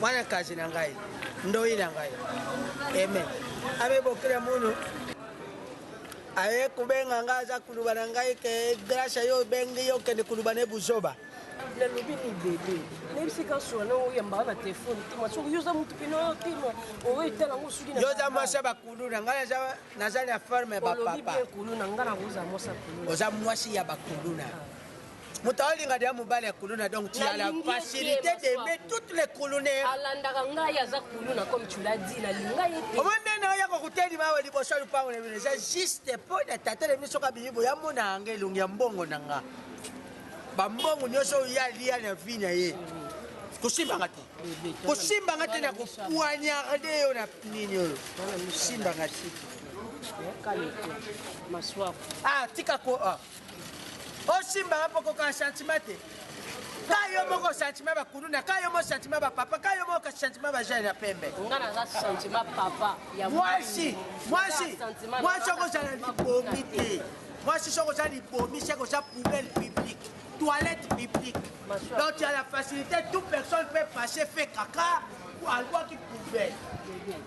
mwana kazi na ngai ndoi na ngai eme amebokela mono aye kobenga ngai aza kuluba na ngai ke grâce yo obengi yo okende kuluba ne buzoba nalobi libele nayebisi ka sura na oyambaka na telefone te masoko yo oza motu pene oyo tema oyo etala ngo soki yo oza mwasi ya bakulu na ngai naza na forme ya bapapa kulu na ngai nakozala mwasi ya kulu oza mwasi ya bakuluna ah. moto aolinga deja mobali ya kuluna donc tu as la facilité d'aimer toutes les kulunaires alandaka ngai aza kuluna comme tu l'as dit nalinga ye te omoni nde na oya kokutelima awa liboso ya lupango na bino eza juste mpo na tata na bino soki abimi boye amona yanga elongi ya mbongo na nga bambongo nyonso oyo ye alia na vi na ye kosimbanga te kosimbanga te na kopoignarde yo na nini oyo simbanga te ah tika ko ah. osimba wapi okokaa sentiment te ka yo moko sentiment bakuluna ka yo moko sentiment bapapa ka yo moko sentiment bajeune ya pembe mwasi mwasi mwasi okozala libomi te mwasi soki oza libomi seke oza poubelle publique toilette publique donc tu as la facilité tout personne peut passer fait kaka alwaki poubelle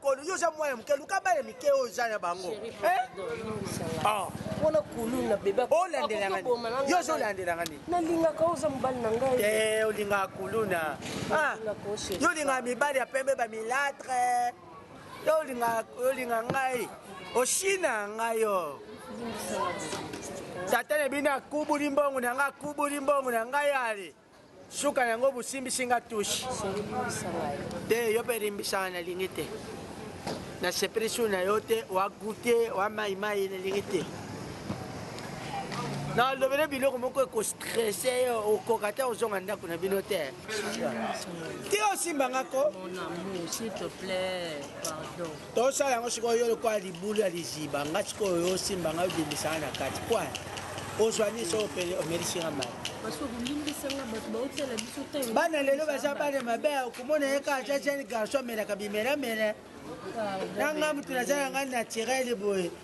Kolo yo oza mwa ya moke luka bana mike oyo oza na bango wana kulu na bebe olandelanga yo ozo olandelanga nini nalingaka oza mobali na ngai te olingaka kuluna yo olingaka mibali ya pembe bamilatre yo olingaka ngai oshina ngai yo tata na bino akubuli mbongo na ngai akubuli mbongo na ngai ale Suka na yango bosimbisi nga touche. Olimbisa ngai. Te yo pe limbisa na lingi te. Na sepeli su na yo te wa goûter wa mai mai na lingi te. Na lobele biloko moko eko stresse yo okoka te ozonga ndako na bino te. Te osimba nga ko. Mon amour, s'il te plaît, pardon. tosala yango sikoyo yo lokola libulu ya liziba nga sikoyo yo osimba ngai obimisanga na kati poi ozwa nini so omelisi nga mai bana lelo baza bana mabe okomona ye kaka ja jeune garçon amelaka bimelamela na nga moto naza na ngai naturele boye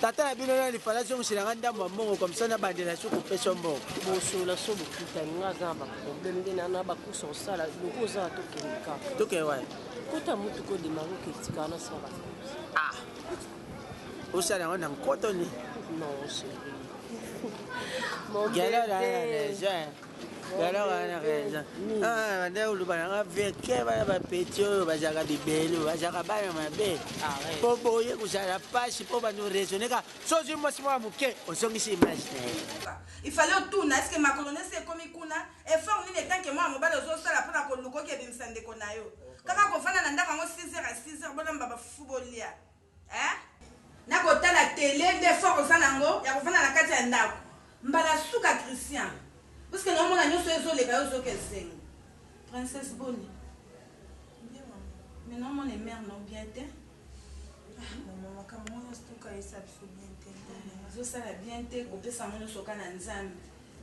tata na bino nani fala azongisela nga ndambo ya mbongo komisa nabandela so kopesa yo mbongo bosola so bokutani nga aza na baproblème nde na bacourse osala loko oza na tokende kaka tokende wapi kota motuka odemaka oketika wana sala ah osala yango na nkoto nini non chéri galala ya neige alors wana raison banda koloba nanga verke bana bapeti oyo bazalaka bibelu bazalaka bana mabe mpo boye kozala mpasi mpo bando raisonneka sozwi mwasi mwa moke ozongisi image na ye il fallait otuna eske makolo nesi ekomi kuna effort nini etanke mwana mobali ozosala mpona koluka okebimisa ndeko na yo kaka kovanda na ndako yango 6 heures ya 6 heures bolamba bafufu bolia Eeh nako tala tele nde effort oza nango yako vanda na kati ya ndaku mbala suka Christian puisque nazo mona nioso ezo leka yo ozo yoka esengo princesse boni bien maman mais nazo mona mère no bien te ah maman makambo ngo nioso to kayisa biso bien te ozo sala bien te ko pesa ngo nioso ka na nzambe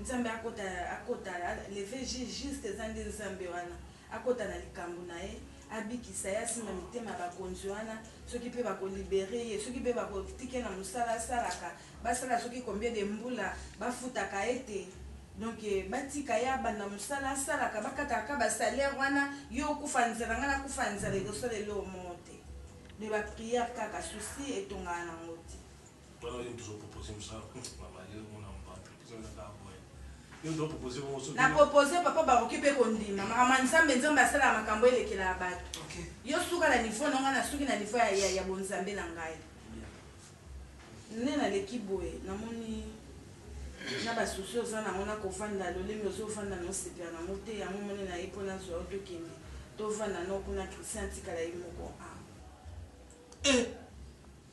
nzambe akota akota leve juste eza nde nzambe wana Akota na likambo na ye, abikisa ye, asimba mitema ya bakonzi wana, soki pe bako liberer ye, soki pe bako tika ye na mosala asalaka, basala soki combien de mbula, bafutaka ye te, donc batika ye abanda mosala asalaka, bakataka kaka ba salaires wana, yo okufa nzala, ngai nakufa ya nzala, ekosala eloko moko te, mais ba prières kaka, soucis etongaka na yango te. Pona yo nini tozo proposer musala hum maman yo ozo mona mutu aza na kaka boye yo ozo proposer bongo soki na proposer papa bakoki pe kondima maman nzambe nzambe asalaka makambu elekelaka batu okay yo suka na niveau na ngai na suki na niveau ya ya ya bonzambe na ngai nde na leki boye na moni na ba soucis oza na ngo na kovanda lolenge ozo vanda na osepela na ngo te yango moni na ye po na zua yo to kende to vanda na yo kuna Christian atikala ye moko ah eh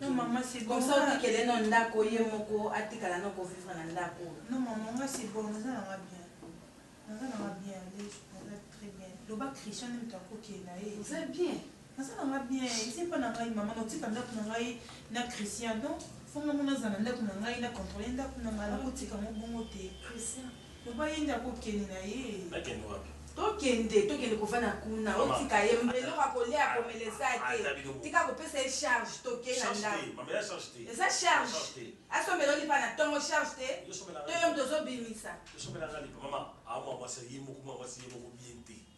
Non maman c'est bon. Comme ça otikele no ndako ye moko atikala no ko vivre na ndako oyo. Non maman nga c'est bon naza na nga bien. Naza na nga bien Alex naza très bien. Loba Christian nde mutu ako kende na ye. Oza bien? Naza na nga bien eza epa na ngai maman nao tika ndako na ngai na Christian donc faut nga moko nazala na ndako na ngai na controler ndako na ngai nako tika yango bongo te. Christian Papa ye nde ako kende na ye. Akende wapi? Tokende tokende kovanda kuna otika ye eloko ya kolia ya komela eza te tika kopesa ye charge toke na ndaku eza charge asombela yo lipa na tongo charge te to yo mutu ozo bimisa.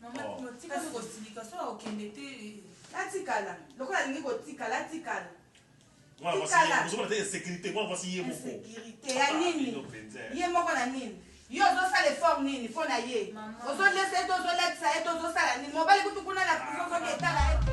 Maman Timo tika nde kosilika soki akokende te eh. Atikala lokola alingi kotikala atikala. Mwana mwasi ye moko ozomona te insecurite mwana mwasi ye moko. Insecurite ya nini ye moko na nini yo ozosala effort nini mpo na ye ozoliesa ye to ozolatisa ye to ozosala nini mobali kutu kuna na prison soki etala ye te.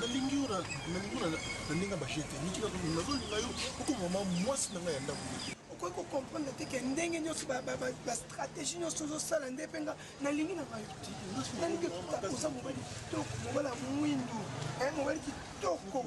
nalingi yo nalingi yo na ndenge bajete niki nazolinga yo okoma mama mwasi na ngai ya ndako okoki kocomprendre te ke ndenge nyonso bastratégie nyonso ozosala nde mpe nga nalingi na ngai nalingi oza mobali kitoko mobali ya mwindu eh, mobali kitoko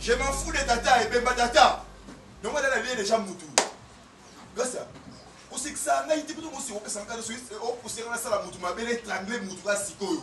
Je m'en fous de tata et bemba tata. Donc elle a lié déjà mutu. Gasa. Osekisa ngai te kutu kosi okesa ngai soki okosela na sala mutu mabele trangle mutu ka sikoyo.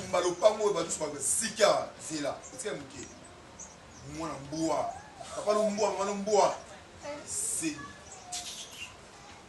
tumba lopango oyo bato soka sika zela etika moke mwana mbwa papa lombwa mwana mbwa seni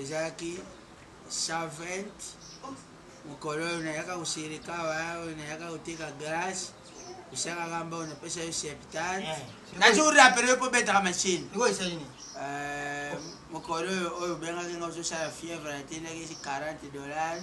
Ezalaki Saint-Vaent, mokolo oyo nayaka kosilika awa, oyo nayaka koteka glace, osalaka mbongo napesa yo septante. Eh, Nazo rappeler yo mpo obetaka machine. Niko esali nini? Eh, mokolo oyo oyo obengaki nga ozosala fièvre natindaki 40 dollars.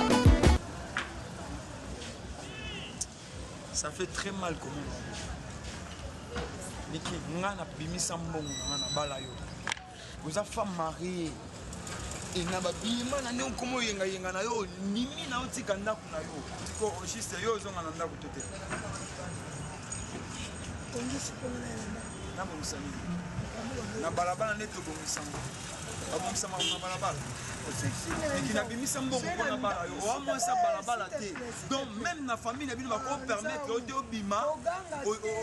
ça fait très mal comment liki nga na bimisa mbongo na nga na bala yo oza femme marie e na babima na ndenge okoma oyengayenga na yo nimi na otika ndako na yo po juste yo ozonga na ndako to te nabongisa nini na balabala nde tobongisango babongisa makambo na balabala eki nabimisa mbongo mpo na bala yo oa mwasi ya balabala te donc meme na famille na bino bakopermettre yo te obima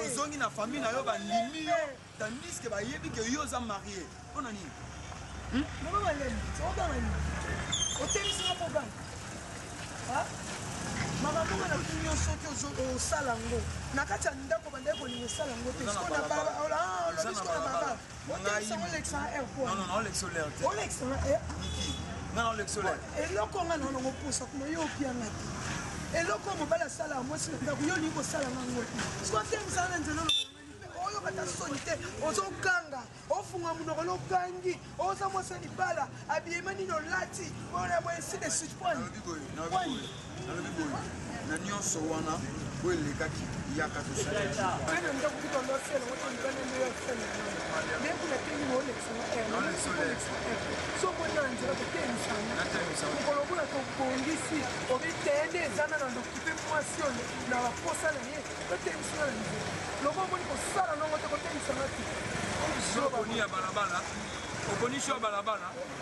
ozongi na famille na yo bandimi yo tandiske bayebi ke yo oza marie mpo na nini hmm? otemisaka koganga makambo oyo natuni yo soki osala yango na kati ya ndako bandaki kolinga osala yango te sikoyo na balabala eloko nga na nango posa kuna yo opianga te eloko mobali asalaka mwasi na ndako yo olingi kosala nango te soki atemisaka na nzela oyoka ta soni te ozokanga ofunga monoko lokangi oza mwasi ya libala abiyema nini olati oyaboye si de suite pwani nalobi boye na nyonso wana oyo elekaki yaka tosalmokolobola tobongisi obiteye nde ezana na lokipe mwasi oyo na baposa na ye totemisana na nzela loko omoni kosala nongo te kotemisana te oponi ya balabala oponi sho ya balabala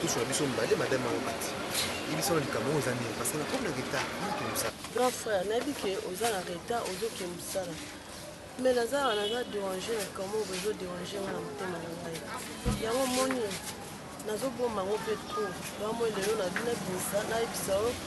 Tous na biso mbale madame mama bati. Yebisa na likambo oyo oza nini parce que na komi na retard nayoki mosala. Grand frère nayebi ke oza na retard ozoke mosala mais naza awa naza derange na likambo oyo ezo derange nga na motema na ngai yango moni nazobomba yango mpe trop yango moi lelo nabina binisa nayebisa yo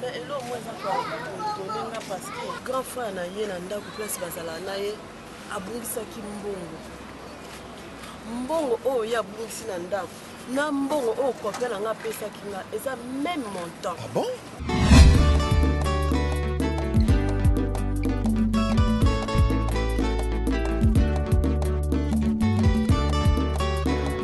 Mais eloko moko eza ko etone nga parce que grand frère na ye na ndako place bazala na ye abungisaki mbongo mbongo oyo ye abungisi na ndako na mbongo oyo kopia na nga apesaki nga eza meme montant ah bon?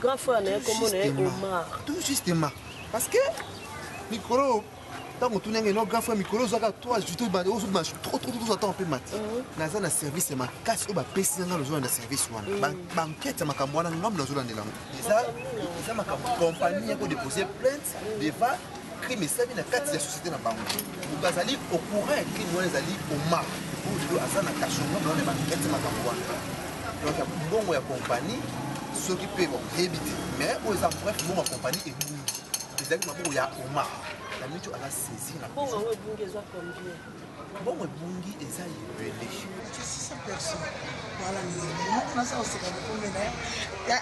Grand frère na ye kombo na ye Omar. Tout justement. Parce que mikolo ntango otuni yango eno grand frère mikolo ozwaka to ajouté ozobima trop trop trop ata mpe mati mhm. naza na service ya makasi oyo bapesi na ngai nazolanda service wana mhm. bankete ya makambo wana ngambo nazolandela yango eza makambo compagnie yako dépose plainte devant crime esalami na kati ya société na bango moto azali au courant ya crime wana ezali omar oyo lelo aza na kashongo na wana bakete makambo wana donc ya mbongo ya kompani soki mpe boyebi te mais oyo eza bref mbongo ya kompani ebungi ezalaki maboko ya omar na mico aza saisi na mbongo ebungi eza combien mbongo ebungi eza ebele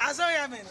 azoya mena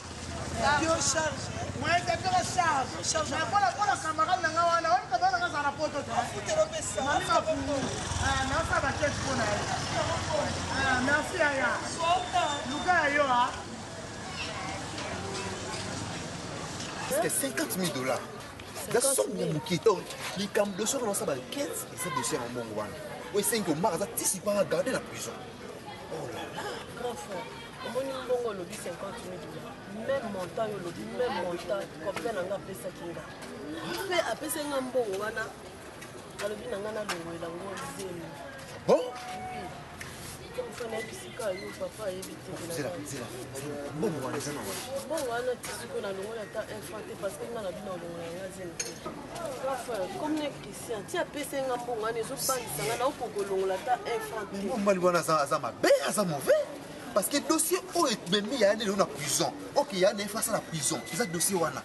Est-ce que 50 000 dollars gasongo moke to likambo doso wana osala bankete eza dosie ya mbongo wana oyo esengi omaka aza tisi mpanga garde na prison omoni mbongo olobi 50 mil dola meme montant yo olobi meme montant complet na nga apesaki nga mpe apesaki nga mbongo wana alobi na nga nalongwela ngo zemi bon mbongo wana eza na wapi mbongo wana tisiko nalongoli ata infante parce que nga na bino olongola nga zemi te Ti apesa nga mbongo wana ezobangisa nga naoki kolongola ata un franc te. Mobali wana aza mabe aza mauvais parce que dossier oyo ebemi ya lelo na prison ok ya na efasa na prison eza dossier wana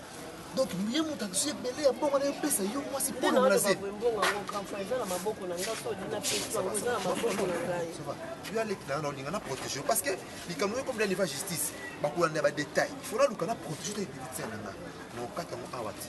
donc ye moto akisi ebele ya mbongo na epesa yo mwasi mpona molaze yo aleki nanga na olinga na protege parce que likambo oyo komida neva justice bakolanda ya badetail il faut naluka na protege to ebelitisa na nga na okata yango awa ti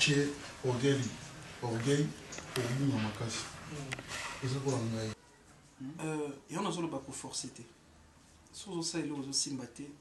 chez orgueil orgueil obima makasi eza kola ngai yango nazoloba koforce te soki ozosalela ozosimba te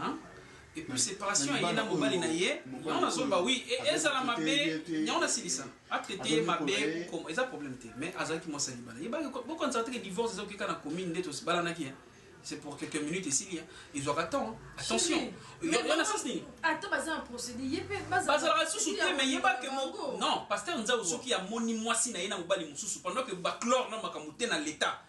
Hein? Et puis separation ye na mobali na ye yango nazoloba oui ezala mabe yango nasilisa atraite ye mabe comme eza problème te mais azalaki mwasi ya libala yebaki bokanisaka teke divorce eza okeka na commune nde tobalanaki c'est pour quelques minutes esili ezwaka temps attention wana sens nini ata baza na procédé ye mpe bazalaka lisusu te mais yeba ke non pasteur nzau soki amoni mwasi na ye na mobali mosusu pendant ke baclore na makambo te na l'état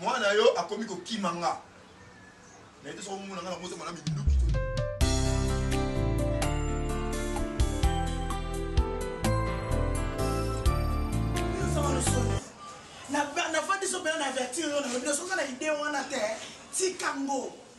mwana yo akomi kokima nga naye te soko mona nga na motema na minduki nafandi so mpena na avertir yo na yo bino soki na ide wana te tikango